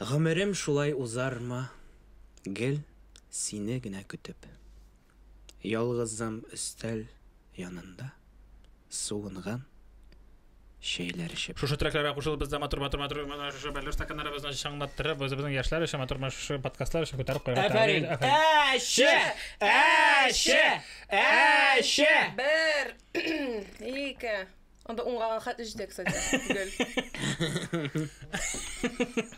Гомерем шулай узармы, гел сине генә көтеп. Ялгызым өстәл янында, суынган. чәйләр эчеп. Шушы трекларга кушылып без дә матур матур матур матур шушы бәллүр стаканнарыбызны чыңлаттырып үзебезнең яшьләр өчен матур матур шушы подкастлар өчен күтәреп куярга Әфәрин! тәкъдим итәм. Әче! Әче! Әче! Бер, ике. Анда уңганга хәтле җитә, кстати, гел.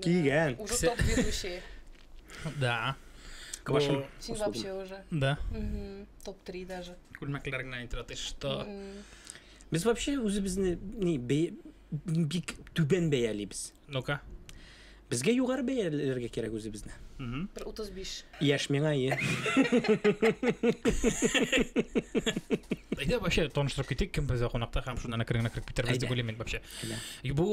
Кигән. Уже топ ведущий. Да. Квашен. Син вообще уже. Да. Топ-3 даже. Күлмәкләр генә әйтер атый, что. Без вообще үзебезне ни бик түбән бәялибез. Ну-ка. Безгә югары бәяләргә кирәк үзебезне. Бер 35. Яшь миңа ие. Әйдә вообще таныштырып китик, кем бездә кунакта һәм шуннан әкрен кереп китербез дип уйлыйм мин вообще. Бу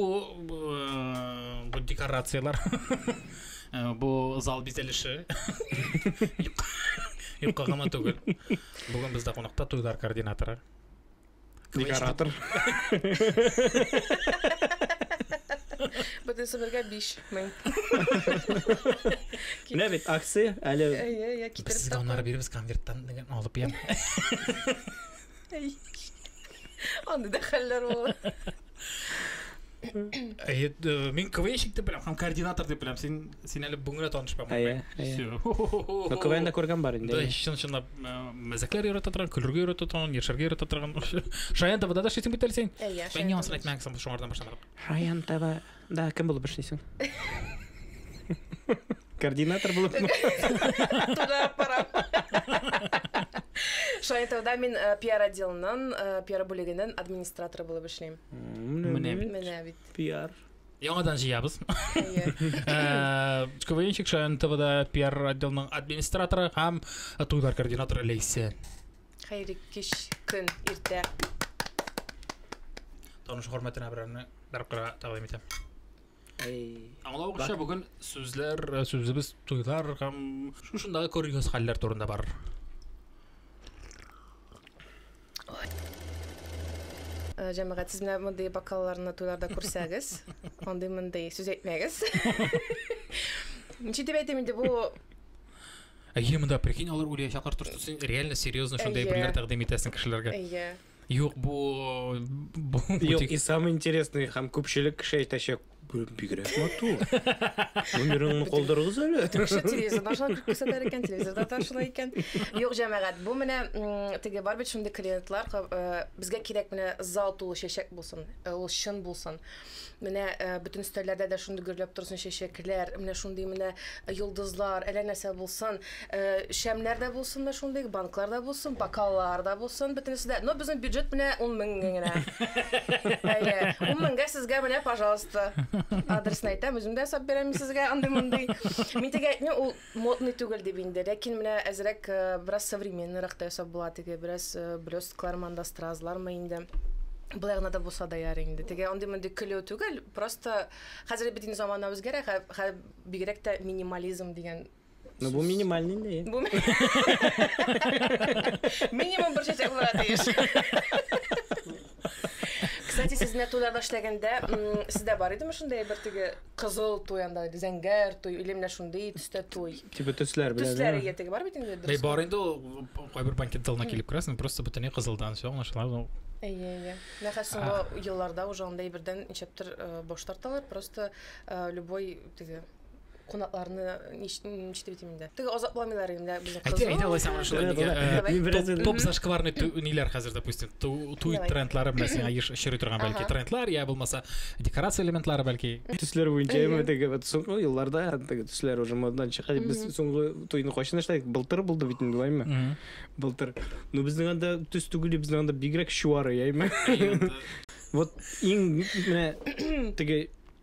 бу э, декорацияләр. Э, бу зал бизәлеше. Юкка гына түгел. Бүген бездә кунакта туйлар координаторы. Декоратор. Бөтен сынырга 5000. Менә бит акция әле. Әйе, я китереп. Без сезгә аннары бирбез конверттан дигән алып ям. Аны да хәлләр булыр. Мин КВНщик дип беләм, һәм координатор дип беләм. Син син әле бүгенгә таныш булмадың. Әйе, әйе. КВНда күргән бар инде. Да, чын чынлап мәзәкләр ярата торган, көлергә ярата торган, яшәргә ярата торган. Шаян табада да шитим бит әле син. Әйе. Мин яңасын әйтмәгән соң шуңардан башланып. Шаян таба. Да, кем булып эшлисең? Координатор булып. Туда пора. Шайтауда мин э, пиар отделының, э, пиар бүлегенең администраторы булып эшлим. Менә бит. Менә бит. Пиар. Яңадан җыябыз. Э, КВНчик Шаян ТВда пиар отделның администраторы һәм туйлар координаторы Ләйсә. Хәйри кич көн иртә. Таныш хөрмәтенә берәрне Бер кара тәкъдим итәм. Аңлавыгызча, бүген сүзләр, сүзебез туйлар һәм шушындагы курьез хәлләр турында бар. Э, җәмәгать сез менә мондый бокалларны туйларда күрсәгез андый мондый сүз әйтмәгез ничек дип әйтим инде бу әйе монда прикинь алар уйлаячаклар дөрес син реально серьезно шундай әйберләр тәкъдим итәсең кешеләргә әйе Юк, бу бу Юк, тик- и самый интересный һәм күпчелек кеше әйтәчәк, «Бу бигрәк матур. Номерыңны калдырыгыз әле. Кеше телевизордан шулай күрсәтәр икән, телевизорда да шулай икән. Юк, җәмәгать, бу менә м, теге бар бит шундый клиентлар, ка- э, безгә кирәк менә зал тулы чәчәк булсын, э, ул чын булсын. Менә э, бөтен өстәлләрдә дә шундый гөрләп торсын чәчәкләр, менә шундый менә йолдызлар, әллә нәрсә булсын. Э, шәмнәр дә булсын менә шундый, банклар да булсын, бокаллар да булсын, бөтенесе дә. Но безнең бюджет менә 10 мең генә. Әйе, 10 меңгә сезгә менә, пожалуйста. Адресны әйтәм, үзем дә ясап бирәм сезгә андый-мондый. Мин дигән, ну, ул модный түгел дип инде, ләкин менә әзрәк э, бераз современныйрак та ясап була теге бераз э, блесткалармы анда стразлармы инде былай гына да булса да яр инде теге андый мондый көлү түгел просто хәзер бит инде замана үзгәрә бигрәк тә минимализм дигән Ну, бу минимальный инде. Бу минимум бер чәчәк була тиеш. Кстати, сез менә туйларда эшләгәндә, сездә бар идеме шундый бер теге кызыл туй анда, зәңгәр туй, или менә шундый төстә туй? Типа төсләр белән. Төсләр ия теге бар бит инде. Бәй бар инде ул кайбер банкет залына килеп керәсең, просто бөтенләй кызылдан все аңлашыла. Әйе, әйе. Нәһә соңгы елларда уже анда ибердән ничектер э, баш тарталар, просто э, любой теге кунакларны ничек дип әйтим инде теге азапламыйлар инде безнең кызны әйдә алай сәгъмән шулай топ зашкварный ниләр хәзер допустим туй трендлары белән сиңа еш очрый торган бәлки трендлар я булмаса декорация элементлары бәлки төсләр буенча яме теге вот соңгы елларда теге төсләр уже модадан чыга дип без соңгы туйны кайчан эшләдек былтыр булды бит инде лайме былтыр ну безнең анда төс түгел безнең анда бигрәк чуары яме вот иң менә теге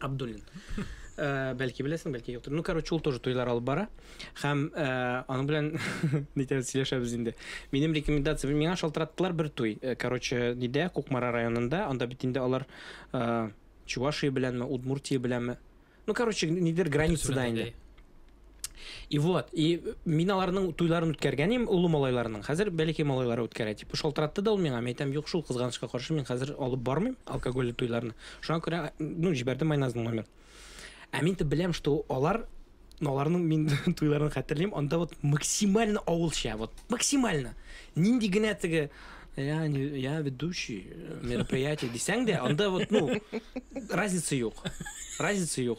Абдуллин. Э, бәлки беләсең, бәлки юктыр. Ну, короче, ул тоже туйлар алып бара. Хәм э, аның белән нитән сөйләшәбез инде. Минем рекомендация, миңа шалтыраттылар бер туй. Э, короче, нидә, Кукмара районында, анда бит инде алар Чувашия беләнме, Удмуртия беләнме. Ну, короче, нидер границада инде. И вот, и мин аларның туйларын үткәргән идем, олы малайларның. Хәзер бәләкәй малайлары үткәрә дип. Шалтыратты да ул миңа, мин әйтәм, юк, шул кызганычка каршы мин хәзер алып бармыйм алкогольле туйларны. Шуңа күрә, ну, җибәрдем Майназның номер. Ә мин тә беләм, что алар аларның мин туйларын хәтерлим, анда вот максимально авылча, вот максимально. Нинди генә теге я, не, я ведущий мероприятия дисәң дә, анда вот, ну, разница юк. Разница юк.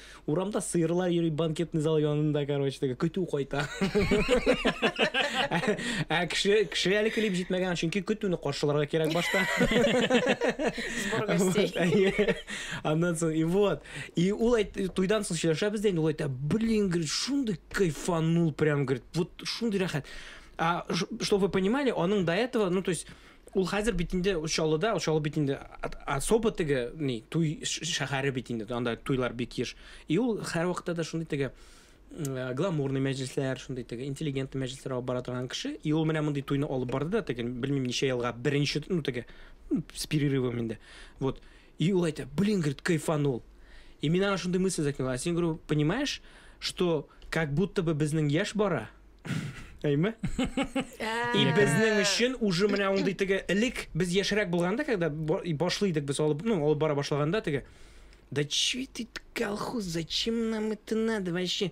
Урамда сыерлар йөри банкетный зал янында, короче, теге көтү кайта. Ә кеше кеше әле килеп җитмәгән, чөнки көтүне каршыларга кирәк башта. Сбор гостей. Аннан соң, и вот. И ул әйт, туйдан соң сөйләшәбез дә инде, ул әйтә, блин, говорит, шундый кайфанул, прям, говорит, вот шундый рәхәт. А, чтобы вы понимали, аның до этого, ну, то есть, Ул хәзер бит инде Чаллыда, Чаллы бит инде особо теге ни туй шәһәре бит инде. Анда туйлар бик еш. И ул һәр вакытта да шундый теге э, гламурный мәҗлесләр, шундый теге интеллигентный мәҗлесләр алып бара торган кеше. И ул менә мондый туйны алып барды да теге, белмим, ничә елга беренче, ну теге, с перерывом инде. Вот. И ул әйтә, блин, говорит, кайфанул. И мин аңа шундый мысль закинул. А син, говорю, понимаешь, что как будто бы безнең яшь бара, Әйме? И безнең өчен уже менә ундый теге элек без яшерәк булганда, когда башлыйдык без алып, ну, алып бара башлаганда теге Да че ты колхоз, зачем нам это надо вообще?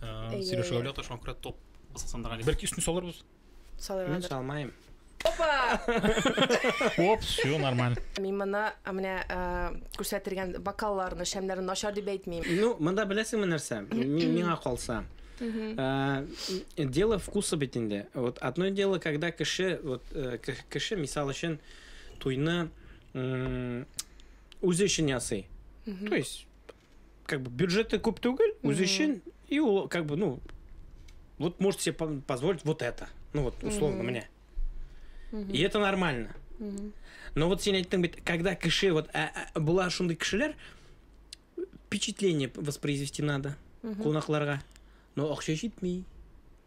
Э, Сереж Гаулята шуңа күрә топ Казахстанда гали. Бәлки өстен салырбыз. Салырга. Салмайм. Опа! Оп, все нормально. Мин моны менә күрсәтергән бокалларны, шәмнәрне начар дип әйтмим. Ну, монда беләсеңме нәрсә? Миңа калса. Э, дело вкуса бит инде. Вот одно дело, когда кеше, вот э, кеше, мисал өчен, туйны үзе өчен ясый. То есть как бы бюджеты күп түгел, үзе өчен, и ул как бы, ну, вот может себе позволить вот это. Ну вот, условно mm-hmm. мне. Mm-hmm. И это нормально. Mm-hmm. Но вот сен айттың бит, когда кеше, вот а, а, была шундай кешеләр, впечатление воспроизвести надо mm-hmm. кунакларга. Но акча җитми.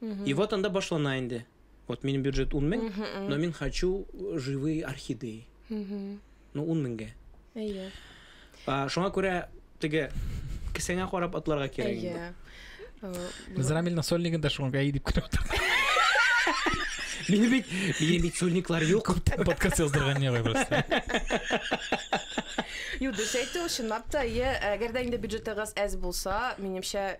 Mm-hmm. И вот анда башлана инде. Вот минем бюджет 10 мең, но мин хочу живые орхидеи. Ну 10 меңгә. Әйе. А, шуңа күрә теге кесәңә карап атларга кирәк. Әйе. Без Рамиль Насольникын да шуңа әйе дип көтеп утырдык. Мине бит, мине бит сольниклар юк. Күптән подкаст яздырган не ғой просто. Юк, дөрес әйтте, ул чынлап та, әйе, әгәр дә инде бюджетыгыз әз булса, минемчә,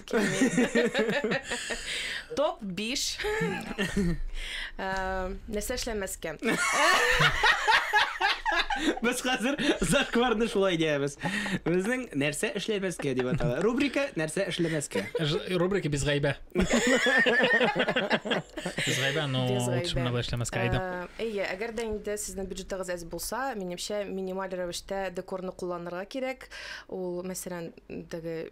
Топ 5 нәрсә эшләмәскә. Без хәзер зашкварны шулай диябез. Безнең нәрсә эшләмәскә дип атала. Рубрика нәрсә эшләмәскә. Рубрика без гайбә. Без гайбә, но шуны да эшләмәскә әйдә. Әйе, әгәр дә инде сезнең бюджетыгыз әз булса, минемчә минималь рәвештә декорны кулланырга кирәк. Ул мәсәлән, теге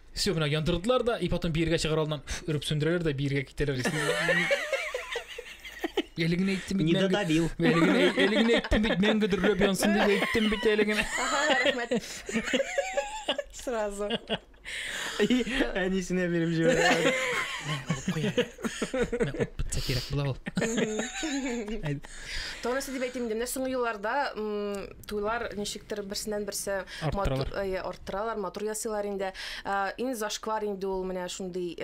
Все, менә яндырдылар да, и потом биергә чыгар алдыннан өреп сүндерәләр дә биергә китәләр. Әле генә әйттем бит. Нида Давил. Әле генә әйттем бит, мәңге дөрләп янсын дип әйттем бит әле генә. Сразу. Әнисенә биреп җибәрә. Бетсә кирәк була ул. Тонысы дип әйтим инде. Менә соңгы елларда Туйлар ничектер берсеннән берсе арттыралар. Матур, арттыралар, матур ясыйлар инде. Иң зашквар инде ул менә шундый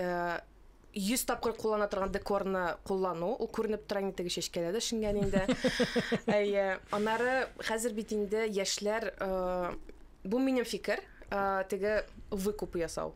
100 тапкыр куллана торган декорны куллану, ул күренеп тора инде теге чәчкәләр дә шиңгән инде. Әйе. Аннары хәзер бит инде яшьләр бу минем фикер, теге выкуп ясау.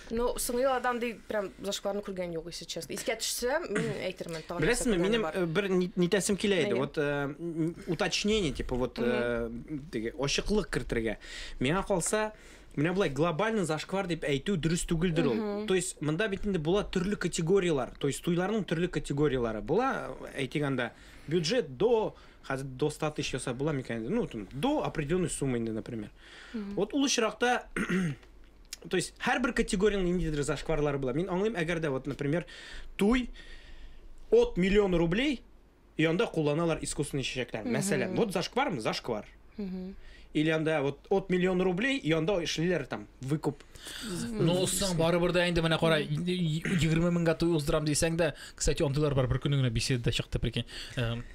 Ну, соңгы елларда андый прям зашкварны күргән юк, если честно. Искә төшсә, мин әйтермен тагын. Беләсезме, минем э, бер нитәсем килә иде. Вот э, уточнение, типа вот э, теге ачыклык кертергә. Миңа калса, менә болай глобальный зашквар дип әйтү дөрес түгелдер ул. То есть монда бит инде була төрле категорияләр. То есть туйларның төрле категорияләре була, әйтик анда бюджет до хәзер до 100 тысяч ясап була микән? Ну, там, до определенной суммы инде, например. Вот ул очракта То есть һәрбер категориянең ниндидер зашкварлары була. Мин аңлыйм, әгәр дә вот, например, туй от миллион рублей и анда кулланалар искусственный чәчәкләр. Мәсәлән, вот зашквармы? Зашквар. Или анда вот от миллион рублей и анда эшлиләр там выкуп. Ну, соң барыбер дә инде менә кара 20 меңгә туй уздырам дисәң дә, кстати, ондылар бар бер көнне генә беседада чыкты, прикинь.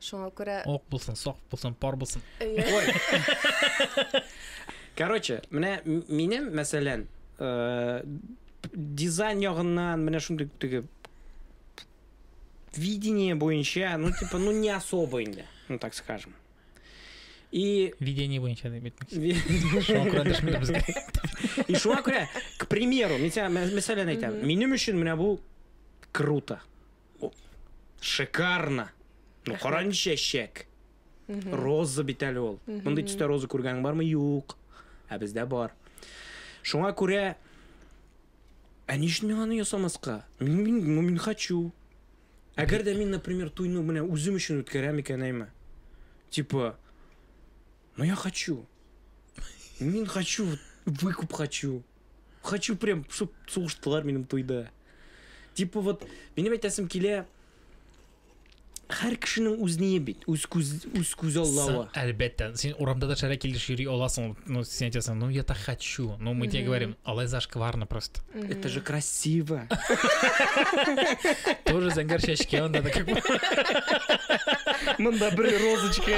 Шуңа күрә Ок булсын, сак булсын, пар булсын. Ой. Короче, менә минем, мәсәлән, э, дизайн ягыннан менә шундый теге видение буенча, ну типа, ну не особо инде, ну так скажем. И... Видение буенча дип әйтмәкче. Шуңа күрә дәшмәдә безгә. И шуңа күрә, к примеру, мин сиңа мәсәлән әйтәм. Минем өчен менә бу круто. Шикарно! Ну, кара ничә чәк. Роза бит әле ул. Мондый төстә роза күргән бармы? Юк. Ә бездә бар. Шуңа күрә Ә ни өчен мин аны ясамаска? Мин, мин, ну, мин хочу. Әгәр дә мин, например, туйны менә үзем өчен үткәрәм икән, әйме. Типа, ну я хочу. Мин хочу, выкуп хочу. Хочу прям, чтоб сугыштылар минем туйда. Типа вот, минем әйтәсем килә, һәр кешенең үз ние бит, үз күз, үз күз аллавы. Әлбәттә, син урамда да шәрә килеш йөри аласың, ну син әйтәсең, ну я так хочу, ну мы тебе говорим, алай зашкварно просто. Это же красиво. Тоже зәңгәр чәчкә анда да как Мында бер розочка.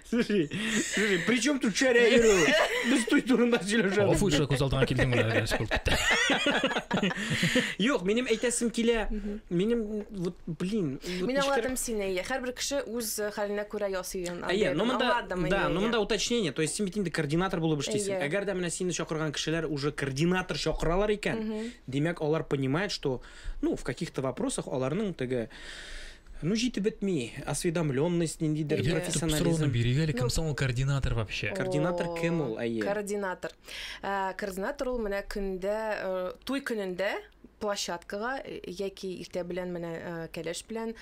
Слушай, слушай, при чем тут чаря Еру? Без той турында сөйләшәбез. Офу ише күз алдыңа килдең менә гәш булып китте. Юк, минем әйтәсем килә. Минем вот, блин. Мин аңладым сине. Һәрбер кеше үз хәленә күрә ясый. Әйе, но монда да, но монда уточнение, то есть син бит инде координатор булып эшлисең. Әгәр дә менә сине чакырган кешеләр уже координатор чакыралар икән, димәк, алар понимают, что Ну, в каких-то вопросах аларның теге Ну, җитеп бетми, осведомленность, ниндидер yeah. профессионализм. бирик әле, кем соң ул координатор вообще? Координатор кем ул, әйе? Координатор. Э, координатор ул менә көндә, э, туй көнендә площадкага э, яки иртә белән менә кәләш белән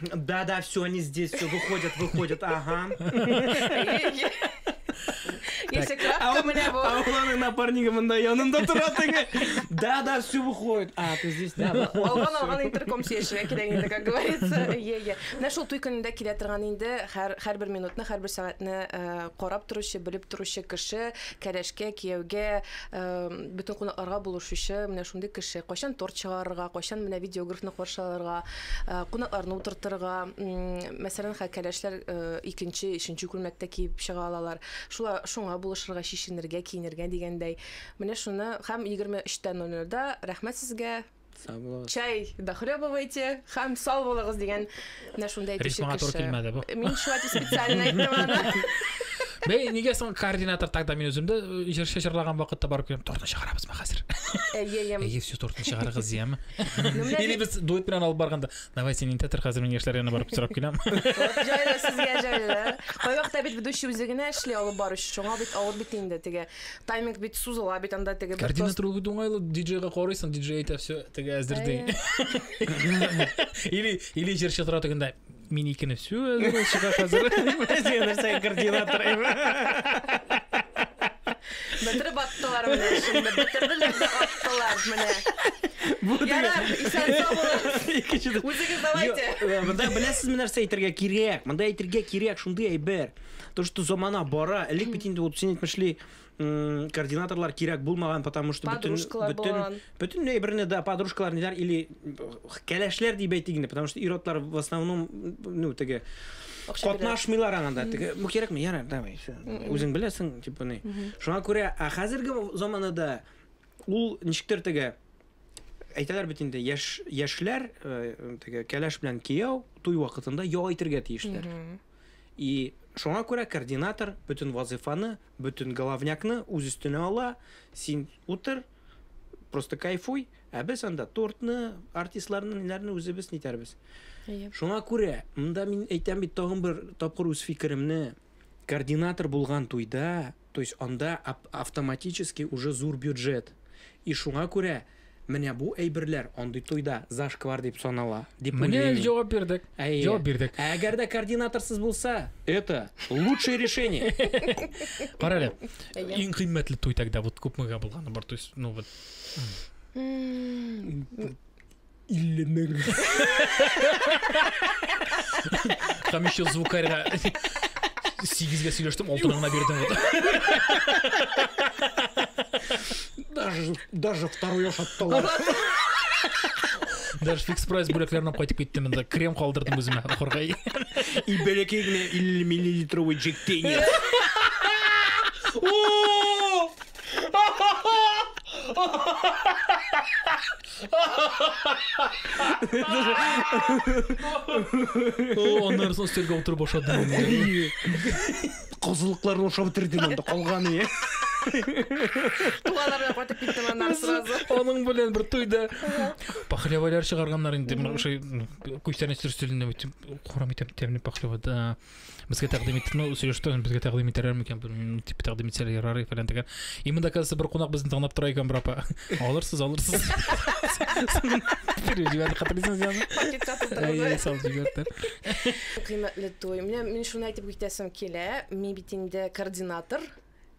Да, да, все, они здесь, все, выходят, выходят, ага. Если кратко, а меня было. А у Ланы напарника мында янында тора теге. Да, да, все выходит. А, ты здесь, да. Алган алган интерком сөйләшергә кирәк инде, как говорится. Е, е. Менә шул туй көнендә килә торган инде һәр һәрбер минутны, һәрбер сәгатьне э, карап торучы, белеп торучы кеше, кәләшкә, кияүгә, э, бөтен кунакларга булышучы, менә шундый кеше. Кайчан торт чыгарырга, кайчан менә видеографны каршы алырга, кунакларны утыртырга, мәсәлән, хә кәләшләр икенче, өченче күлмәктә киеп чыга алалар. Шула шуңа булышырга, чишенергә, киенергә дигәндәй. Менә шуны һәм 23:00-да рәхмәт сезгә. Чай дохлебывайте һәм сау булыгыз дигән менә шундый әйтүче кеше. Мин шулай дип специально әйттем аны. Бәй, нигә соң координатор тогда мин үземдә җырчы җырлаган вакытта барып киләм, тортны чыгарабызмы хәзер? Әйе, әйе. Әйе, все тортны чыгарыгыз, яме. Или без дуэт белән алып барганда, давай син инде тер хәзер мин яшьләр янына барып сорап киләм. Җайлы сезгә җайлы. Кайвакыта бит ведущий үзе генә эшли алып баручы. Шуңа бит авыр бит инде теге. Тайминг бит сузыла бит анда теге. Координатор ул бит уңайлы, диджейга карыйсың, диджей әйтә все, теге әзер ди. Или или җырчы тора тегендә. Мин икене сю чыга хәзер. Син нәрсә координатор ими? Бетереп аттылар менә шунда. Бетерделәр дә аттылар менә. Бу Ярар, исән сау булыгыз. Икенче Үзегез давайте. Э, монда беләсез менә нәрсә әйтергә кирәк. Монда әйтергә кирәк шундый әйбер. То, что замана бара, элек бит инде вот син әйтмешли, координаторлар кирәк булмаган, потому что бөтен бөтен бөтенләй берне дә подружкалар ниләр или кәләшләр дип әйтик инде, потому что иротлар в основном ну теге катнашмыйлар анда. Теге бу кирәкме? Яра, давай, все. Үзең беләсең, типа ни. Шуңа күрә, а хәзерге заманада ул ничектер теге әйтәләр бит инде яшь яшьләр э, теге кәләш белән кияү туй вакытында ял итәргә тиешләр. И шуңа күрә координатор бөтен вазифаны Бөтен головнякны үз өстенә ала, син утыр, просто кайфуй, ә без анда тортны, артистларны, ниләрне үзебез нитәрбез. Әйе. Шуңа күрә, монда мин әйтәм бит тагын бер тапкыр үз фикеремне, координатор булган туйда, то есть анда автоматически уже зур бюджет. И шуңа күрә Менә бу әйберләр андый туйда зашквар дип санала, дип уйлыйм мин. Менә җавап бирдек. Әйе. Җавап бирдек. Ә әгәр дә координаторсыз булса, это лучшее решение. Кара әле. Иң кыйммәтле туй тогда вот күпмегә булганы бар, то есть, ну вот. 50 мең. Там еще звукарьга сигезгә сөйләштем, алтын гына бирдем. Даже, даже второй ашаттылар. Даже фикс прайс бүләкләренә кайтып киттем инде. Крем калдырдым үземә укырга. И бәләкәй генә 50 миллилитровый Джек Дэниелс. Аннары соң өстәлгә утырып ашадым. Козылыкларны ашап бетерде монда калган ие. Туганнар да кайтып киттем аннан сразу. Аның белән бер туйда пахлевалар чыгарганнар инде. Менә ошо күчтәнәч төрсөлендә үтеп курам итәм тәмле пахлева да. Безгә тәкъдим итте, ну, сөйләштем, безгә тәкъдим итәләр микән, белмим, дип тәкъдим итсәләр ярар и фәлән дигән. И монда калса бер кунак безне тыңлап тора икән, бер апа. Алырсыз, алырсыз. Биреп җибәрде, хәтерлисеңез язды? Пакетка Әйе, тутырды. салып җибәрде. Кыйммәтле туй. Менә мин шуны әйтеп Әйтәсем килә, мин бит инде координатор,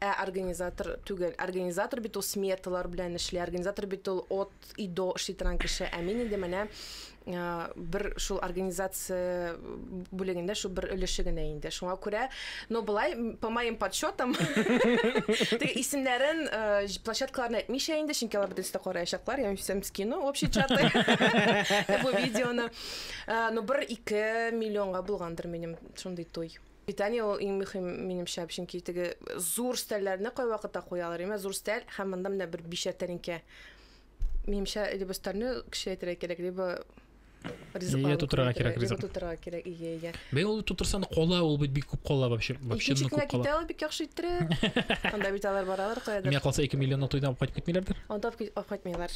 ә организатор түгел. Организатор бит ул смерталар белән эшли, организатор бит ул от и до эшли торган кеше, ә мин инде менә бер шул организация бүлегендә шул бер өлеше генә инде. Шуңа күрә, но былай по моим подсчетам, теге исемнәрен площадкаларын әйтмичә инде, чөнки алар бөтенесе дә караячаклар, я всем скину общий чаты бу видеоны. Но бер ике миллионга булгандыр минем Шундый туй. Питание ул иң мөһим минемчә, чөнки теге зур стәлләрне кайвакытта куялар, имә зур стәл һәм монда менә бер бишәр тәлинкә. Минемчә, либо стальны кечерәйтергә кирәк, либо Ие тутырырга кирәк ризык. Тутырырга кирәк, ие, ие. Бе ул тутырсаң кола, ул бит бик күп кола вообще. Вообще күп кола. Китә ул бик яхшы иттерә. Анда бит алар баралар каядыр. Миңа калса 2 миллионлык туйдан кайтып китмиләрдер. Анда кайтмыйлар.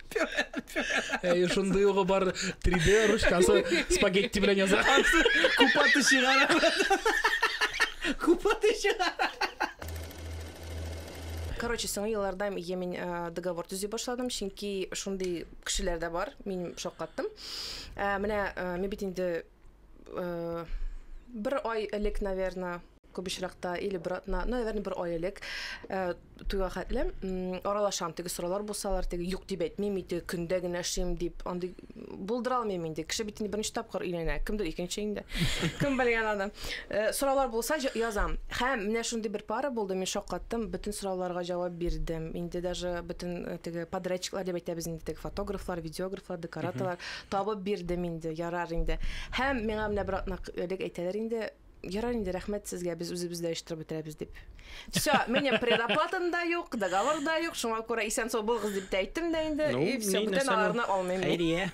Әй, шундый угы бар 3D ручкасы спагетти белән яза. Купаты чыгара. Купаты чыгара. Короче, соңгы елларда я мин э, договор төзи башладым, чөнки шундый кешеләр дә бар, мин шаккаттым. Ә, э, менә э, мин бит инде э, бер ай элек, наверное, Күп очракта или бер атна, ну, наверное, бер ай элек э, туйга хәтле аралашам, теге сораулар булсалар, теге юк дип әйтмим, инде көндә генә эшлим дип, андый булдыра алмыйм инде. Кеше бит инде беренче тапкыр өйләнә, кемдер икенче инде. Кем белгән аны. Э, сораулар булса язам. Һәм менә шундый бер пара булды, мин шаккаттым, бөтен сорауларга җавап бирдем. Инде даже бөтен э, теге подрядчиклар дип әйтәбез инде, теге фотографлар, видеографлар, декораторлар табып бирдем инде, ярар инде. Һәм миңа менә бер атна элек әйтәләр инде, Ярар инде, рәхмәт сезгә, без үзебез дә оештырып бетерәбез дип. Все, минем предоплатам да юк, договор да юк, шуңа күрә исән сау булыгыз дип тә әйттем дә инде, ну, и все, бүтән аларны алмыйм. Хәйрия.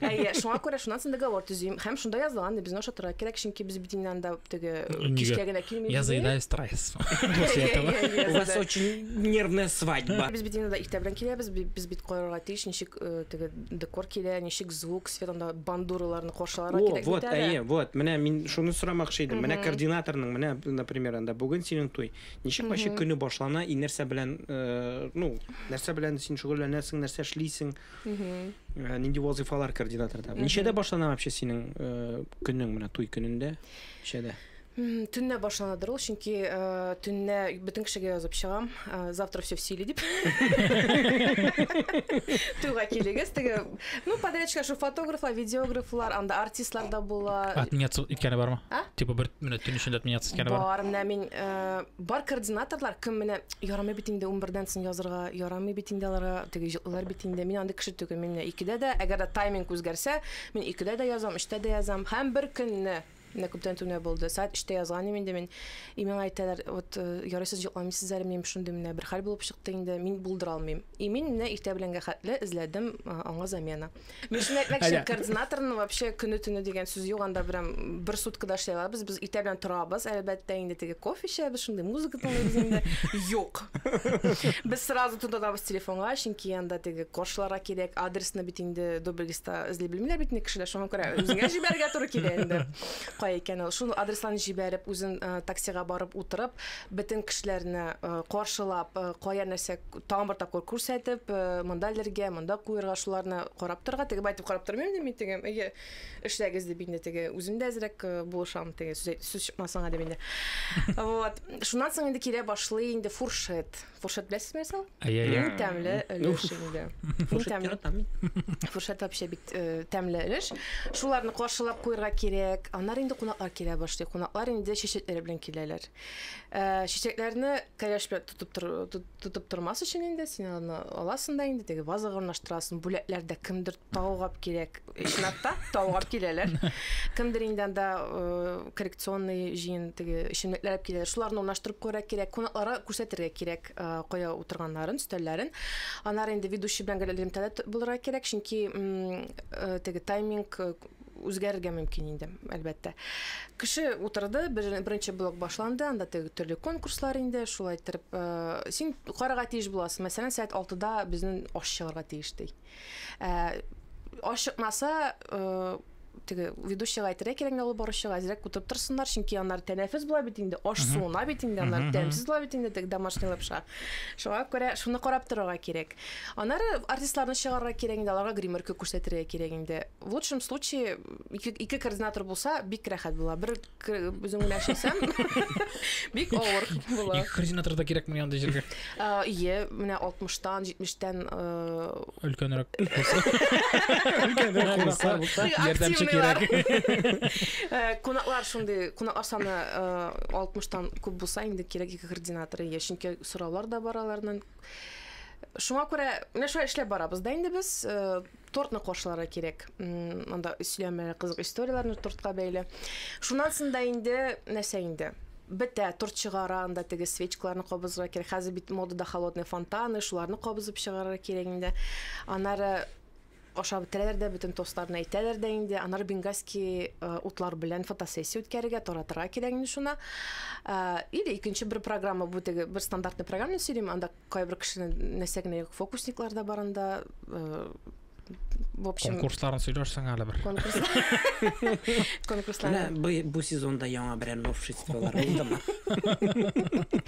Әйе, шуңа күрә шуннан соң договор төзим. Һәм шунда язылган ди, безне ошатырга кирәк, чөнки без бит инде анда теге кичкә генә килмибез. Я заедаю стресс. У вас очень нервная свадьба. Без бит инде иртә белән киләбез, без бит карарга тиеш, ничек теге декор килә, ничек звук, Светлана бандураларны каршыларга О, кирәк вот, бит әле. әйе, вот, менә мин шуны сорамакчы идем. Менә координаторның, менә, например, анда бүген синең туй. Ничек вообще көне башлана и нәрсә белән, э, ну, нәрсә белән син шөгыльләнәсең, нәрсә эшлисең? Э, Нинди вазыйфалар координаторда? Ничәдә башлана вообще синең э, көнең менә туй көнендә? Ничәдә? Төннә башланадыр ул, чөнки э, төннә бөтен кешегә язып чыгам, э, завтра все в силе дип. Туйга килегез, теге, ну, подрядчика шу фотографлар, видеографлар, анда артистлар да була. Отменяться иткәне бармы? А? Типа бер менә төн эчендә отменяться иткәне бар. Бар, менә мин э, бар координаторлар, кем менә ярамый бит инде 11-дән соң язырга, ярамый бит инде аларга, теге җылылар бит инде. Мин андый кеше түгел, мин менә икедә дә, әгәр дә тайминг үзгәрсә, мин икедә дә язам, өчтә дә язам, һәм бер көнне Менә күптән түгел булды. Сәгать 3-тә язган идем инде мин. И миңа әйтәләр, вот э, ярыйсыз йокламыйсыз әле, минем шундый менә бер хәл булып чыкты инде, мин булдыра алмыйм. И мин менә иртә беләнгә хәтле эзләдем э, аңа замена. Мин шуны әйтмәкче, координаторның вообще көне-төне дигән сүз юк, анда прям бер суткада эшли алабыз. Без иртә белән торабыз, әлбәттә, инде теге кофе эчәбез, шундый музыка тыңлыйбыз инде. Юк. Без сразу тотабыз телефонга, чөнки анда теге коршларга кирәк, адресны бит инде дубль Та эзли белмиләр бит ни кешеләр, шуңа күрә үзеңә җибәрергә туры килә инде. Кай икән ул? Шул адресларны җибәреп, үзен э, таксига барып утырып, бөтен кешеләрне э, каршылап, э, кая нәрсә к- тагын бер тапкыр күрсәтеп, э, монда элергә, монда куерга, шуларны карап торырга, теге байтып карап тормыйм ди мин теге. Әйе, эшләгез дип инде теге. Үзем дә әзрәк э, булышам теге сүз әйт- сүз чыкмасынга дип инде. Вот. Шуннан соң инде килә башлый инде фуршет. Фуршет беләсезме исә? Иң тәмле өлеш инде. Иң тәмле. Фуршет вообще бик э, тәмле өлеш. Шуларны каршылап куярга кирәк. Аннар инде кунаклар килә башлый. Кунаклар инде чәчәкләр белән киләләр. Э, чәчәкләрне кәләш белән тотып тор, тотып тормас өчен инде син аны аласың да инде теге вазага урнаштырасың. Бүләкләрдә кемдер Таугап кирәк. Чынлап та таугап киләләр. Кемдер инде анда э, коррекционный җыен теге эчемлекләр алып киләләр. Шуларны урнаштырып күрә кирәк. Кунакларга күрсәтергә кирәк э, кая утырганнарын, өстәлләрен. Анар инде ведущий белән гел элемтәдә булырга кирәк, чөнки э, теге тайминг үзгәрергә мөмкин инде, әлбәттә. Кеше утырды, беренче блок башланды, анда теге төрле конкурслар инде, шулай иттереп, син карарга тиеш буласың. Мәсәлән, сәгать 6-да безнең аш чыгарга тиеш ди. Ашыкмаса, теге ведущийга әйтергә кирәк инде ул баручыга әзрәк утырып торсыннар, чөнки аннар тәнәфес була бит инде, аш суына бит инде, аннар тәмсез була бит инде теге домашний лапша. Шуңа күрә шуны карап торырга кирәк. Аннары артистларны чыгарырга кирәк инде, аларга гримерка күрсәтергә кирәк инде. В лучшем случае, ике координатор булса, бик рәхәт була. Бер үзең генә эшләсәм бик авыр була ике координатор да кирәкми андый җиргә ие менә алтмыштан җитмештән өлкәнрәк ярдәмче кирәк кунаклар шундый кунаклар саны алтмыштан күп булса инде кирәк ике координатор ие чөнки сораулар да бар аларның шуңа күрә менә шулай эшләп барабыз да инде без Тортны кошларга кирәк. Монда өсләмә кызык историяләрне тортка бәйле. Шуннан соң да инде нәрсә инде? бетә, торт чыгара, анда теге свечкаларны кабызырга кирәк. Хәзер бит модада холодный фонтаны, шуларны кабызып чыгарырга кирәк инде. Анары ашап бетерәләр дә, бөтен тостларны әйтәләр дә инде. Анары бенгальский э, утлар белән фотосессия үткәрергә, таратырга кирәк инде шуны. Э, или икенче бер программа бу теге бер стандартный программа сөйлим, анда Кайбер кешенең нәрсә генә юк, фокусниклар да бар анда. Э, в общем, конкурсларын сөйләрсең әле бер. Конкурслар. Бу бу сезонда яңа берәр новшестволар булдымы?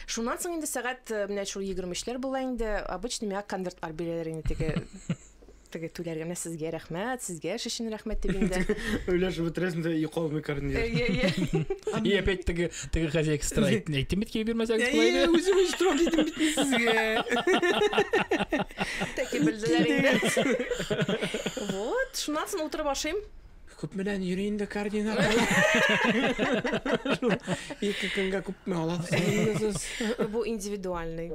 Шуннан соң инде сәгать э, менә шул 23-ләр була инде. Обычно миңа конвертлар бирәләр инде теге Теге түләр генә сезгә рәхмәт, сезгә эш өчен рәхмәт дип инде. Өләш бетерәсен дә йока алмый карнир. Әйе, әйе. И опять теге теге хозяйка стра әйтте бит кие бирмәсәгез кылай Әйе, дип. үзем өч торам дидем бит мин сезгә. Тәки белделәр инде. Вот, шуннан соң утырып ашыйм. Күп менән йөри инде карнина. Ике көнгә күпме аласыз? Бу индивидуальный.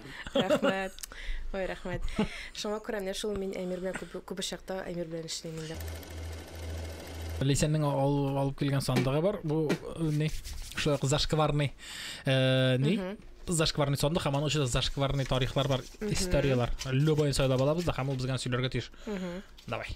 Рәхмәт. Ой, рәхмәт. Шуңа күрә менә шул мин Әмир белән күп күп очракта Әмир белән эшлим инде. Лисәннең ал- алып килгән сандыгы бар. Бу э, ни? Шулай ук зашкварный э, ни? Зашкварный сандык һәм аның эчендә зашкварный тарихлар бар, историяләр. Любой сайлап алабыз да һәм ул безгә сөйләргә тиеш. Давай.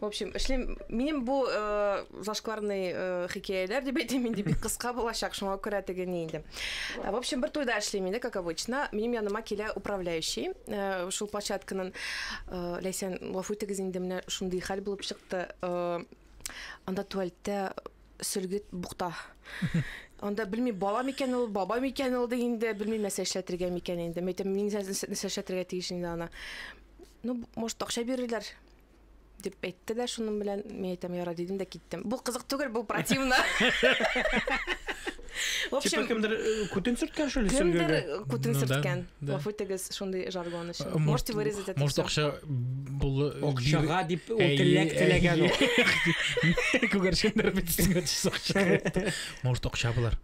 в общем эшлим минем бу э, зашкварный э, хикәяләр дип әйтим инде бик кыска булачак шуңа күрә теге ни инде э, в общем бер туйда эшлим инде как обычно минем яныма килә управляющий э, шул площадканың э, ләйсән гафу итегез инде менә шундый хәл булып чыкты э, анда туалетта сөлгет букта анда белмим бала микән ул баба микән ул инде белмим нәрсә эшләтергә микән инде мәйтәм мин нәрсә эшләтергә тиеш инде ана Ну, может, акча бирерләр дип әйтте дә шуның белән мин әйтәм яра дидем дә киттем бу кызык түгел бу противно в общем кемдер э, күтен сөрткән шул кемдер күтен сөрткән гафу итегез шундый жаргон өчен э, можете вырезать это может акча булы акчага дип ул теләк теләгән күгәрчендер бит сиңа акча может акча булар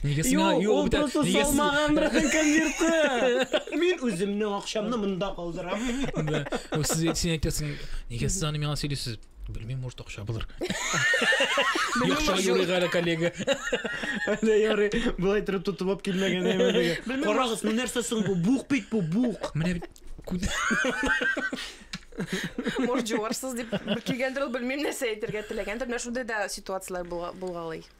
Нигә сиңа Юк, юк ул бит, просто нигә син- салмаган биргән конверты. Мин үземнең акчамны монда калдырам. Да. Ул сез әйт- син әйтәсең, нигә сез аны миңа сөйлисез? Белмим, может, акча булыр. Белмим, Акча может, юрыйга әле коллега. Әле ярый, болай торып тотып алып килмәгән әйбәтеге. Белмим, Карагыз, ну нәрсә соң бу? Бук бит бу, бук. Менә бит күн- Может, җуарсыз дип килгәндер ул, белмим нәрсә әйтергә теләгәндер. Менә шундый да ситуацияләр булга- булгалый.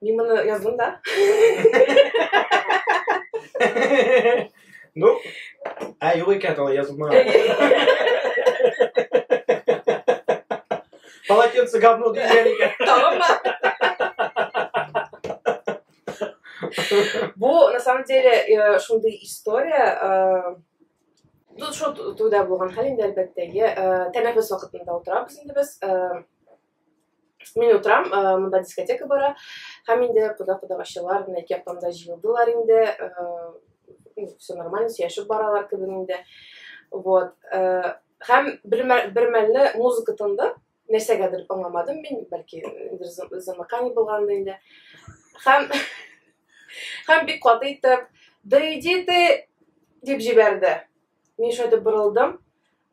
Мин моны яздым да. Ну, а юк икән алай язылмаган. Полотенце говно дигән икән. Тамаммы? Бу, на самом деле, э, шундый история, э, Тут шул туйда булган хәл инде әлбәттә. Э, тәнәфес вакытында утырабыз инде без. Мин утырам, э, монда дискотека бара, һәм инде кода кодагачылар менә ике яктан да җыелдылар инде, э, ну, все нормально, сөйләшеп баралар кебек инде. Вот. Э, һәм бер бер мәлне музыка тынды, нәрсәгәдер аңламадым мин, бәлки замыкание булганда инде. Һәм һәм бик каты итеп, да иди ты, дип җибәрде. Мин шундый борылдым,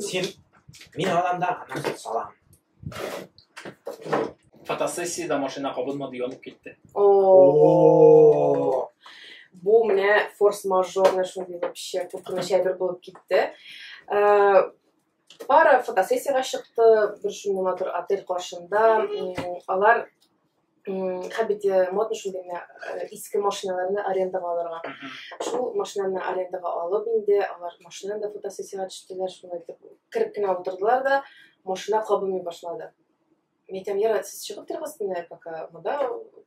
Син мин аламда анахит салам. Фотосессияда машина кабынмады, янып китте. О. Бу менә форс-мажорный шундый вообще куркыныч әйбер булып китте. Э, пара фотосессияга чыкты, бер шундый матур отель каршында. Алар Хәбите бит э, модно шундый генә э, иске машиналарны арендаға алырга. Шул машинаны арендаға алып инде, алар машинаны да фотосессияга төштеләр, шуны итеп кереп кенә утырдылар да, машина кабынмый башлады. Митәм, яра, сез чыгып торыгыз менә, пока монда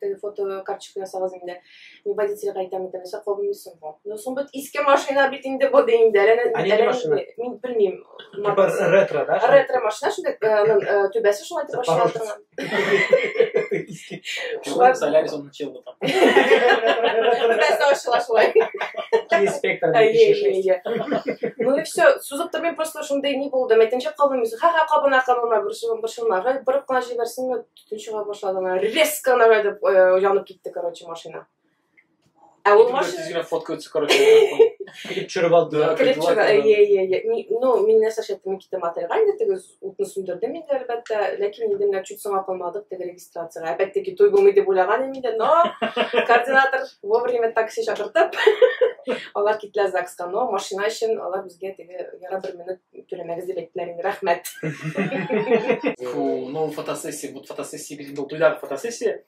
теге фотокарточка ясагыз инде. Ну, водитель кайта митә, нәрсә кабынмыйсың бу. Ну, соң бит иске машина бит инде бу ди инде. Әле Ә нинди машина? Мин белмим. Типа ретро, да? Ретро машина шунда э, ну, э, түбәсе шулай итеп ачыла торган. Шулай Солярис он учил там. Түбәсе ачыла шулай. Инспектор. Ну и все. Сузып тормый просто шундай не булды. Мәйтенчә кабынмыйсың. Ха-ха, кабына, кабына, борчылма, борчылма. Борып кына җибәрсен, Төн чыга башлады ана резко ана итеп э, янып китте, короче, машина. Ә ул машина Тиз генә фотка үтсе, короче. Килеп төшереп алдылар. Килеп Килеп чыга. алдылар. Ие, ие, ие. Ми- Ну, мин нәрсә эшләп мин киттем отельгә инде теге утны сүндердем инде әлбәттә, ләкин инде менә чуть соңа калмадык теге регистрациягә. Әлбәттә ки той булмый дип уйлаган идем инде, но координатор вовремя такси чакыртып, алар киттеләр ЗАГСка, но машина өчен алар безгә теге яра бер минут Түләмәгез дип әйттеләр инде, рәхмәт. Фу, ну фотосессия, бу фотосессия бит инде ул туйдагы фотосессия.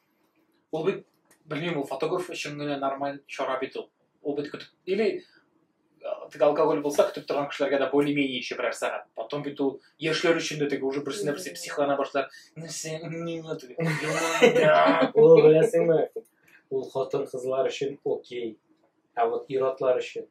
Ул бит белмим, ул фотограф өчен генә нормаль чара бит ул. Ул бит көтеп или теге алкоголь булса, көтеп торган кешеләргә дә более-менее еще берәр сәгать. Потом бит ул яшьләр өчен дә теге уже берсенә берсе психлана башлар. Нәрсә, не надо. Ул беләсеңме? Ул хатын кызлар өчен окей. Ә вот иратлар өчен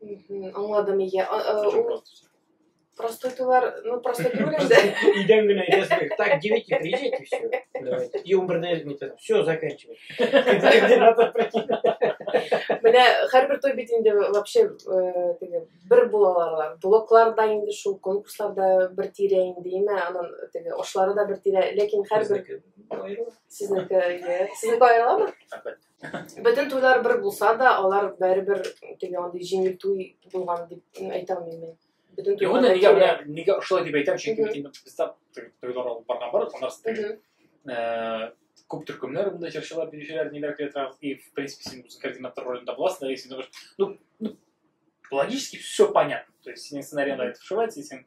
Аңладым, иә. Простытулар, ну, простытулар да. Идем гына, если так, девяти приезжайте, все. Давайте. И умбр на это, все, заканчивай. Менә һәрбер той бит инде вообще э, теге бер булалар. Блокларда инде шул конкурсларда бер тирә инде, име, анын теге ошлары да бер тирә, ләкин һәрбер Сезнеке, иә. Сезнеке аерыламы? Әлбәттә. Бөтен туйлар бер булса да, алар бәрібір теге андый җиңел туй булган дип әйтә алмыйм мин. Бөтен Юк, туйлар нигә менә нигә шулай дип әйтәм, чөнки Мгм. бит без там туйлар алып барган бар, алар Мгм. э, күп төркемнәр монда җырчылар, биючеләр, ниләр килә тора. И, в принципе, син үзең координатор ролендә буласың, да, и син говоришь, ну, ну, логически все понятно. То есть синең сценарийда это вшивается, и син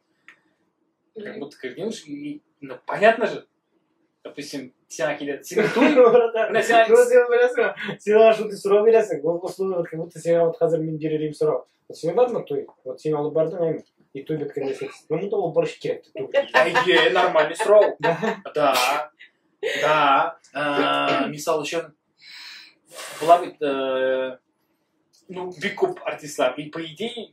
как будто координируешь, и, ну, понятно же, допустим, сен әкидә, сен туй, менә сен... Ну, сен беләсең, сен ана шундый сорау бирәсең, ул условия, как будто сиңа вот хәзер мин бирелим сорау. Вот сиңа бармы туй? Вот син алып бардың, әйме? И туй беткәндә син, ну, монда ул борыш кирәк, туй. Әйе, нормальный сорау. Да, да, э, мисал өчен, була бит, э, ну, бик күп артистлар, и по идее,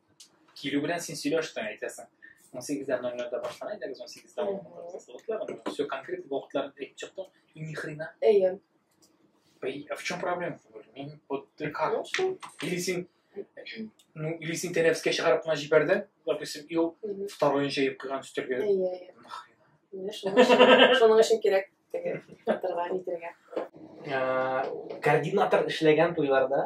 Килү белән син сөйләштең, әйтәсең. 18-дә 00-да башлана иде, 18-дә вакытлар. Все конкрет вакытлар әйтеп чыктың, и ни хрена. Әйе. А в чем проблема? Мин вот ты как? Ну что? Или син ну, или син тәнәфескә чыгарып кына җибәрдең, допустим, и ул второй җыеп куйган өстәлгә. Әйе, әйе. Нахрена. Шуның өчен кирәк теге катырга нитергә. Координатор эшләгән туйларда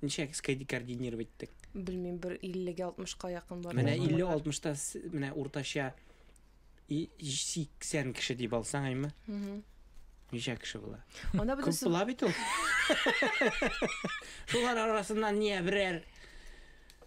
Ничә скейт координировать иттек? Белмим, бер 50-гә 60-ка якын бар. Менә 50-60-та менә уртача 80 кеше дип алсаң, әйме? Угу. Ничә кеше була? Анда бит Күп була бит ул. Шулар арасыннан не берәр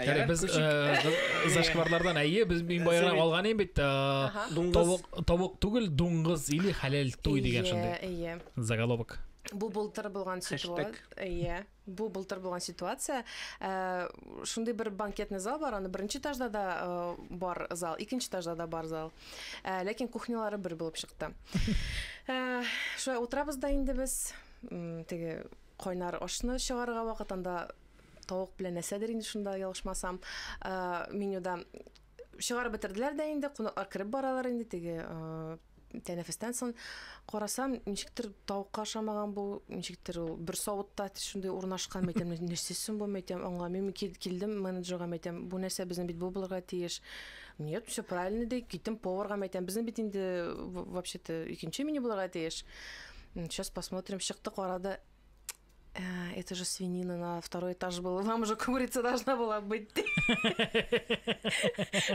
Яре без зашкварлардан әйе, без мин баягы алган идем бит. Тавык, тавык түгел, дуңгыз или халәл туй дигән шундый. Әйе, әйе. Заголовок. Бу былтыр булган ситуация. Әйе. Бу былтыр булган ситуация. Э, шундый бер банкетный зал бар, аны беренче этажда да э, бар зал, икенче этажда да бар зал. Э, ләкин кухнялары бер булып чыкты. Шулай утырабыз да инде без теге кайнар ашны чыгарга вакытында тавык белән нәрсәдер инде шунда ялгышмасам менюда чыгарып бетерделәр дә инде кунаклар кереп баралар инде теге тәнәфестән соң карасам ничектер тавыкка ошамаган бу ничектер ул бер савытта шундый урнашкан мәйтәм нәрсә соң бу мәйтәм аңламыйм килдем менеджерга мәйтәм бу нәрсә безнең бит бу булырга тиеш нет все правильно ди киттем поварга мәйтәм безнең бит инде вообще то икенче меню булырга тиеш сейчас посмотрим чыкты карады Э, это же свинина на второй этаж была. Вам же курица должна была быть.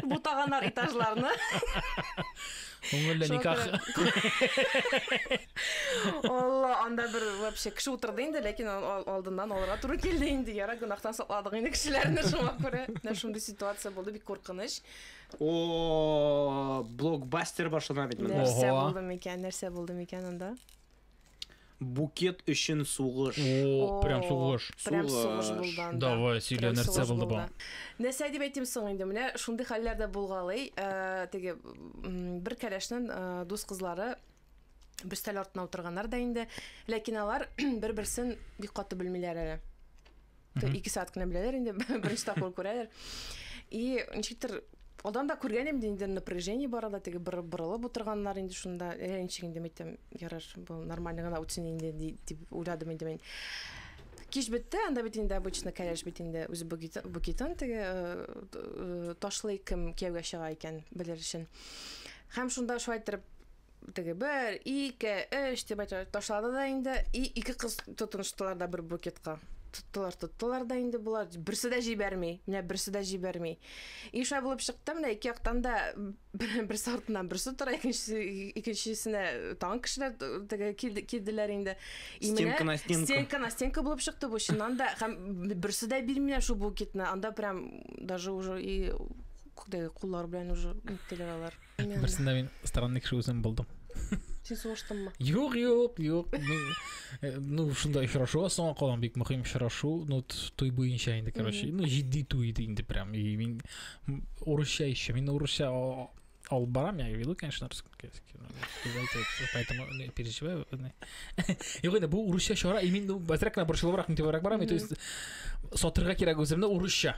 Бутаганар этажларны. Күңелле никах. Алла, анда бер вообще кеше утырды инде, ләкин алдыннан алырга туры килде инде. Яра гынахтан сакладык инде кешеләрне шуңа күрә. Менә шундый ситуация булды, бик куркыныч. О, блокбастер башлана бит монда. Нәрсә булды микән? Нәрсә булды микән анда? Букет өчен сугыш. О, прям сугыш. Прям сугыш булды анда. Давай, сөйлә, нәрсә булды бу? Нәрсә дип әйтим соң инде, менә шундый хәлләр дә булгалый. Теге бер кәләшнең дус кызлары бөстәл артына утырганнар да инде, ләкин алар бер-берсен бик каты белмиләр әле. ике сәгать кенә беләләр инде беренче тапкыр күрәләр и ничектер одан да күргән инде инде напряжение бар анда теге бер борылып утырганнар инде шунда ә ничек инде мәйтәм ярар был нормально гына үтсен инде дип уйладым инде мин кич бетте анда бит инде обычно кәләш бит инде үзе букетын теге э, ташлый кем кияүгә чыга икән белер өчен һәм шунда шулай итеп Теге бер, ике, өч дип әйтә ташлады да инде. И ике кыз тотыныштылар да бер букетка. Тоттылар, тоттылар да инде болар берсе дә җибәрми. Менә берсе дә җибәрми. И шулай булып чыкты, менә ике яктан да берсе артыннан берсе тора, икенчесе икенчесенә тагын кешеләр теге килде- килделәр инде. И менә Стенка на стенку. Стенка на стенка булып чыкты бу чыннан да. Һәм берсе дә бирмиләр шул букетны. Анда прям даже уже и куллар белән уже иттеләр алар. Берсендә мин странный кеше үзем булдым. Син сугыштыңмы? Юк, юк, юк. Э, ну, шунда очрашу соңга калган бик мөһим очрашу. Ну, туй буенча инде, короче. Ну, җитди туй иде инде прям. И мин урысча еще. Мин урысча ал барам, я веду, конечно, русский. Поэтому не переживаю. Юк, инде бу урысча чара, и мин бәзрәк кенә борчылыбрак, нитебрәк барам. То есть сатырга кирәк үземне урысча.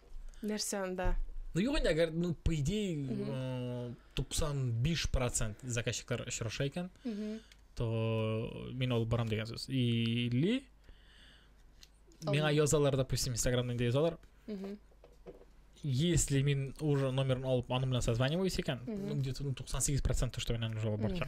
Нәрсә анда? Ну, юк инде, әгәр, ну, по идее, э, 95% заказчиклар очраша икән, то мин алып барам дигән сүз. Или миңа язалар, допустим, Инстаграмда инде язалар. Если мин уже номерын алып, аның белән созваниваюсь икән, ну, где-то ну, 98% то, что мин аны уже алып барчак.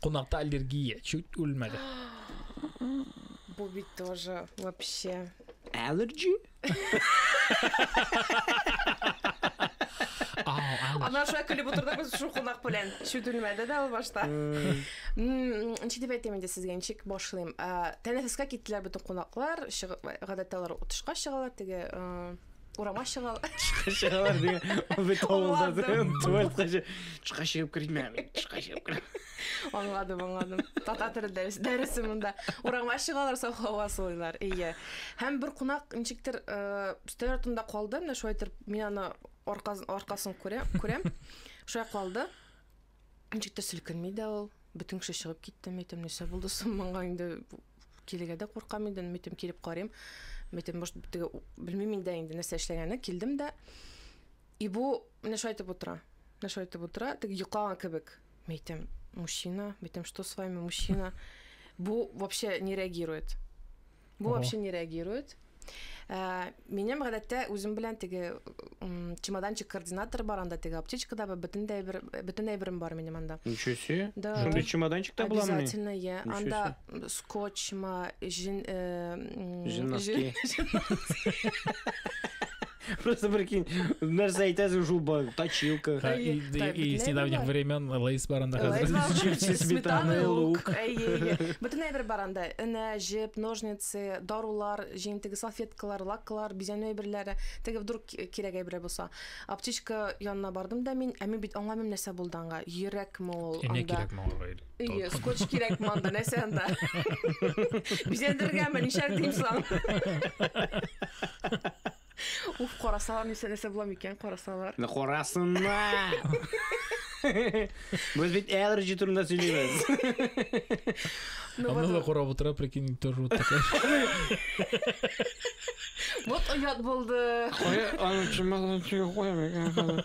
Кунакта аллергия чуть үлмәде. Бу бит тоже вообще. Allergy? Ана шулай көлеп утырды без шул кунак белән. Чүт үлмәде дә ул башта. Ничек дип әйтәм инде сезгә, ничек башлыйм. Тәнәфескә киттеләр бөтен кунаклар. Гадәттә алар утышка чыгалар, теге Урама чыгал. Чыгалар дигән. Ул бит авылда Аңладым. дигән туалетка чы- чыга чыгып кермә. Чыга чыгып кермә. Аңладым, аңладым. Татар теле дәрес- дәресе монда. Урама чыгалар, саф һава сулыйлар. Ие. Һәм бер кунак ничектер э, өстәл артында калды, менә шулай итеп мин аны аркасын, аркасын күрә- күрәм. Шулай калды. Ничек тә селкенми дә ул. Бөтен кеше чыгып китте, мәйтем, нәрсә булды соң моңа инде килергә дә куркам инде, мәйтем, килеп карыйм. Мәйтем, может, теге белмим инде инде нәрсә эшләгәнен, килдем дә. И бу менә шулай итеп утыра. Менә шулай итеп утыра, теге йоклаган кебек. Мәйтем, мужчина, мәйтем, что с вами, мужчина? Бу вообще не реагирует. Бу вообще не реагирует. Э, минем гадәттә үзем белән теге чемоданчик координатор бар анда теге аптечкада бар бөтен дә бер бөтен әйберем бар минем анда ничего себе да шундый чемоданчикта була обязательно я анда скотч ма жин э, жинаски Просто прикинь, нәрсә әйтәсең шул ба- точилка. Ха, Әйе, и- да, и- и бөтенләй с недавних бар. времен лейс бар анда Лейс хәзер. бар, Чипсы, чипсы, сметана, сметана, лук. лук. Әйе, әйе. Бөтенләй бер бар анда. Энә, җеп, ножницы, дарулар, җиң теге салфеткалар, лаклар, бизәнү әйберләре. Теге вдруг ки- кирәк әйберә булса. Аптечка янына бардым да мин, ә мин бит аңламыйм нәрсә булды аңа. Йөрәкме ул Энә анда? кирәкме аңа? Ие, скотч кирәк монда, нәрсә анда? Бизәндергәнме, нишәр дим соң? Уф, карасалар нәрсә нәрсә була микән, карасалар. Менә карасыннар. Без бит allergy турында сөйлибез. Ну, Аны вот, да карап утыра, прикинь, төр рот такая. вот оят булды. Кая аны чималдан чыгып куям икән хәзер.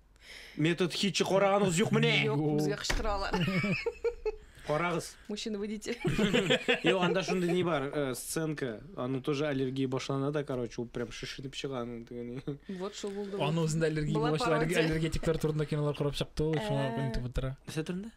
Метод хитчы караганыгыз юк менә. Юк, безгә кычкыралар. Карагыз. Мужчина выйдите. Юк, анда шундый не бар, э, сценка. Аны тоже аллергия башлана да, короче, ул прям шешенеп чыга аның тегене. Вот что булды. Аны үзендә аллергия булгач, аллергетиклар турында кинолар карап чыкты ул, шуңа күнтеп утыра. Нәрсә турында?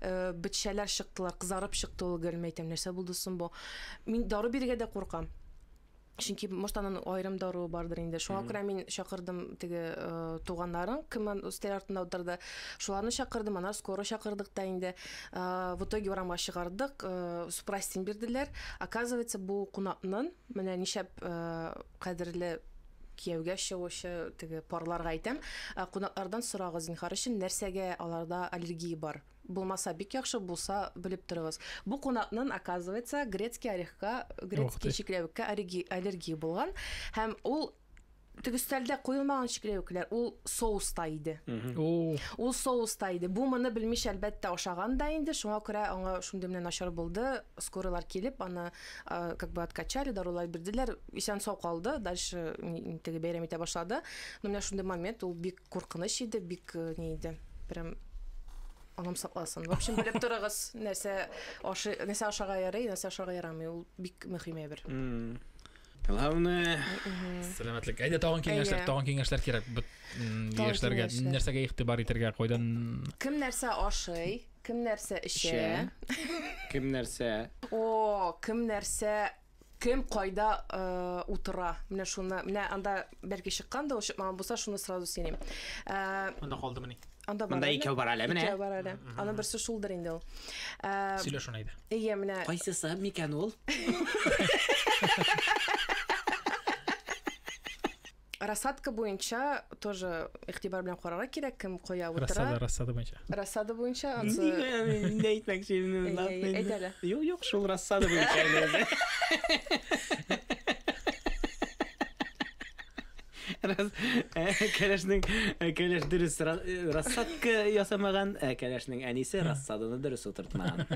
э, бетчәләр чыктылар, кызарып чыкты ул гел, мәйтәм, нәрсә булды соң бу? Мин дару бирергә дә куркам. Чөнки может анын айрым даруы бардыр инде. Шуңа күрә мин чакырдым теге э, туганнарын, кем ан- өстәл артында утырды. Шуларны чакырдым, анар скоро чакырдык та инде. Э, В итоге урамга чыгардык, э, супрастин бирделәр. Оказывается, бу кунакнын менә нишәп э, кадерле Кияүгә чыгучы теге парларга әйтәм, ә кунаклардан сорагыз, зинһар өчен, нәрсәгә аларда аллергия бар. Булмаса, бик яхшы, булса, белеп торыгыз. Бу кунакнын, оказывается, грецкий орехка, грецкий чикләвеккә аллергия булган, һәм ул теге өстәлдә куелмаган чикләвекләр, ул соуста иде. Ул соуста иде. Бу моны белмичә, әлбәттә, ашаган да инде, шуңа күрә аңа шундый менә начар булды, скорыйлар килеп, аны как бы откачали, дарулар бирделәр. исән сау калды дальше теге бәйрәм итә башлады но менә шундый момент ул бик куркыныч иде бик э, ни иде прям анам сакласын в общем белеп торыгыз нәрсә ашы нәрсә ашарга ярый нәрсә ашарга ярамый ул бик мөһим әйбер главное сәламәтлек әйдә тагын киңәшләр тагын киңәшләр кирәк яшьләргә нәрсәгә игътибар итәргә кайдан кем нәрсә ашый кем нәрсә эчә кем нәрсә о кем нәрсә Кем кайда утыра? Менә шуны, менә анда бәлки чыккан да ул чыкмаган булса, шуны сразу сөйлим. Анда калдымыни? Анда бар. Анда икәү бар әле, менә. Икәү бар әле. Аны берсе шулдыр инде ул. Сөйлә шуны әйдә. Әйе, менә. Кайсысы микән ул? рассадка буенча тоже игътибар белән карарга кирәк, кем коя утыра. Рассада, рассада буенча. Рассада буенча. Нигә әйтмәкче инде? Әйт әле. Юк, юк, шул рассада буенча. Раз э, кәләшнең э, кәләш дөрес э, рассадка ясамаган, ә кәләшнең әнисе рассаданы дөрес утыртмаган.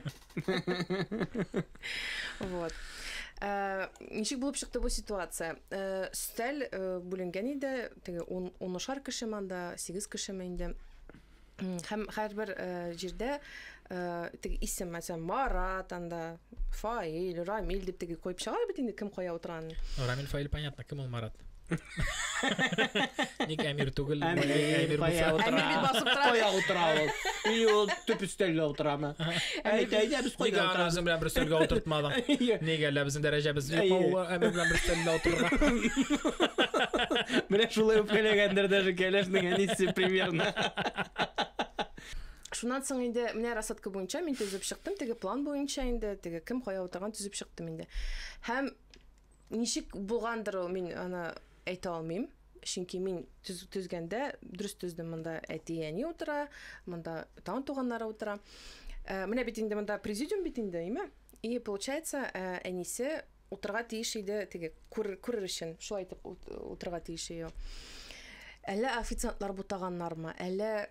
Вот. Э, ничек булып чыкты бу ситуация? Э, Сталь э, бүленгән иде, теге 10 шар кеше манда, 8 кеше менде. Хәм һәрбер җирдә теге исем, мәсәлән, Марат анда, Фаил, Рамил дип теге куеп чыгар бит инде кем кая утырган. Рамил Фаил понятно, кем ул Марат? Ник әмир түгел? Әмир, әмир кая булса. утыра? Әмир бит басып тора. Кая утыра ул? Или ул төп өстәлгә утырамы? Әйт, әйт, ә без Нигә кайда аны утырамыз? үзең белән бер стөлгә утыртмадың? Нигә әллә безнең дәрәҗәбез юкмы? Әйе. Ул әмир белән бер стөлдә утырырга. Менә шулай үпкәләгәндер даже кәләшнең әнисе примерно. Шуннан соң инде менә рассадка буенча мин төзеп чыктым, теге план буенча инде, теге кем кая утырган төзеп чыктым инде. Һәм Ничек булгандыр ул, мин аны әйтә алмыйм. Чөнки мин төз, төзгәндә, дөрес төздем, монда әти-әни утыра, монда тагын туганнары утыра. Ә, менә бит инде монда президиум бит инде, әйме? И, получается, ә, әнисе утырга тиеш иде, теге күр, күрер өчен, шулай итеп утырга тиеш иде. Әллә официантлар бутаганнармы, әллә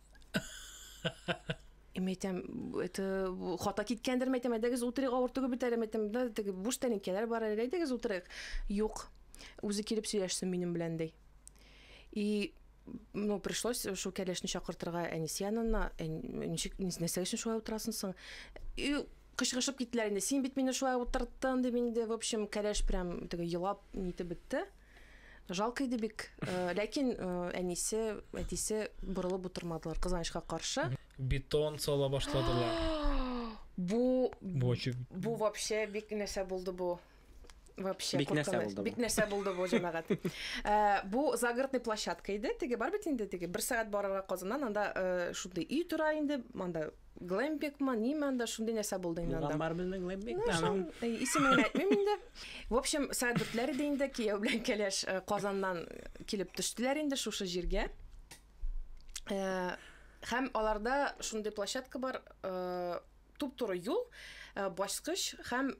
Эм әйтәм, это хата киткәндер, мәйтәм, әйдәгез утырыйк, авыр түгел бит әле, мәйтәм, да, теге буш тәнекәләр бар әле, әйдәгез утырыйк. Юк, үзе килеп сөйләшсен минем белән, ди. И ну, пришлось шул кәләшне чакыртырга әнисе янына, ничек, нәрсәгә өчен шулай утырасың соң? И кычкырышып киттеләр инде, син бит мине шулай утырттың, дип инде, в общем, кәләш прям теге елап, нитеп бетте. Жалко иде бик. Э, ләкин э, әнисе, әтисе борылып утырмадылар, кызганычка каршы. Бетон сала башладылар. Бу бу бу вообще бик нәрсә булды бу. Вообще бик нәрсә булды. Бик нәрсә булды бу җәмәгать. Э, бу загородный площадка иде. Теге бар бит инде теге бер сәгать барырга Казаннан анда шундый өй тора инде, анда Глэмпик ма, ниме анда шундый нәрсә булды инде анда. Булган бар безнең глэмпик. Ну, шул, э, исемен генә әйтмим инде. В общем, сәгать дүртләр иде инде, кияү белән кәләш э, Казаннан килеп төштеләр инде шушы җиргә. Э, һәм аларда шундый площадка бар, э, туп-туры юл, э, баскыч һәм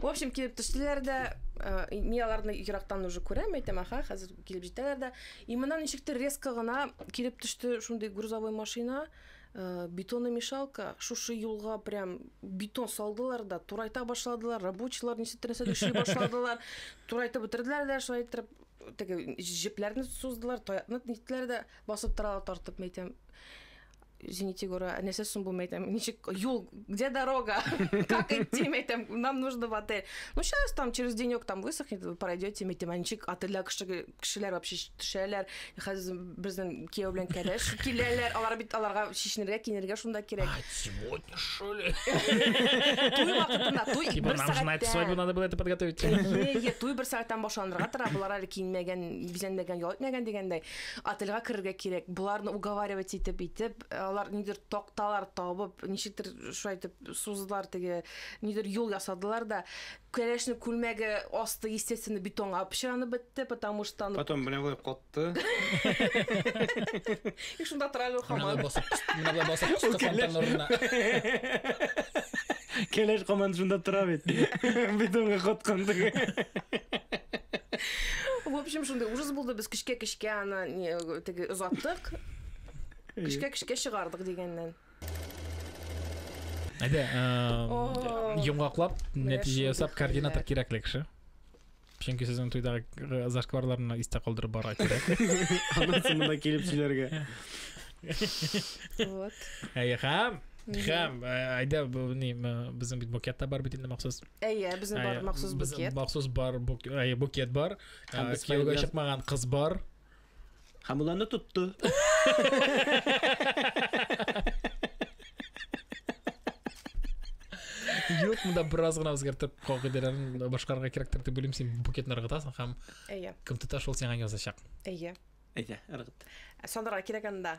В общем, килеп төштеләр дә, э, мин аларны ерактан уже күрәм, әйтәм, аха, хәзер килеп җитәләр дә. И моннан ничектер резко гына килеп төште шундый грузовой машина, э, бетонный мешалка, шушы юлга прям бетон салдылар да, турайта башладылар, рабочийлар ничектер нәрсәдер эшли башладылар, турайтып бетерделәр дә, шулай иттереп теге җепләрне суздылар, таякны ниттеләр дә, басып торалар тартып, мин әйтәм, извините, говорю, а не се сумбуме, там, ничек, юл, где дорога, как идти, мне там, нам нужно в отель. Ну, сейчас там через денек там высохнет, вы пройдете, мне там, а ничек, отельдә кешеләр вообще төшәләр, хәзер безнең кияү белән кәләш киләләр, алар бит аларга шешенергә, кинергә шунда кирәк. А сегодня что ли? Туй вакытында, туй типа, бер сәгатьтә. Нам же свадьбу надо было это подготовить. Е, туй бер сәгатьтән башланырга тора, булар әле киенмәгән, бизәнмәгән, ял итмәгән дигәндәй. Отельга керергә кирәк. Боларны уговаривать итеп итеп, алар нидер токталар табып, ничектер шулай итеп суздылар теге, нидер юл ясадылар да. Кәләшне күлмәге асты, естественно, бетонга пычранып бетте, потому что аны... Потом менә болай катты. И шунда тора әле Менә хаман. болай басып, менә болай басып кыстыксам тән урынына. Кәләш команда шунда тора бит. Бетонга коткан теге. В общем, шундый ужас булды. Без көчкә-көчкә аны не, теге озаттык. Көчкә-көчкә чыгардык дигәннән. Әйдә, О. э, йомгаклап, нәтиҗә ясап, координатор кирәкле кеше. Чөнки сезнең туйдагы зашкварларны истә калдырып барырга кирәк. Аннан монда килеп сөйләргә. Вот. Әйе, хәм. Хәм, э, әйдә, ни, безнең бит букет та бар бит инде махсус. Әйе, безнең бар махсус букет. Махсус бар букет бар. Э, кияүгә чыкмаган кыз бар. Хамуланы тотту. Юк, монда бераз гына үзгәртеп кагыйдәләрен башкарырга кирәктер дип уйлыйм. Син букетны ыргытасың һәм Әйе. кем тота шул сиңа язачак. Әйе. Әйдә, ыргыт. Сандырга кирәк анда.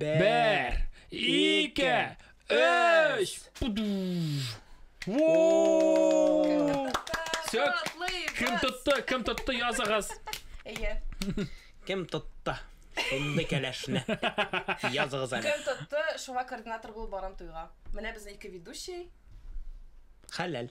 Бер, ике, өч! Все, кем тотты, кем тотты, языгыз. Әйе. Кем тотты? Шундый кәләшне. Языгыз әле. Кем тотты, шуңа координатор булып барам туйга. Менә безнең ике ведущий. Хәләл.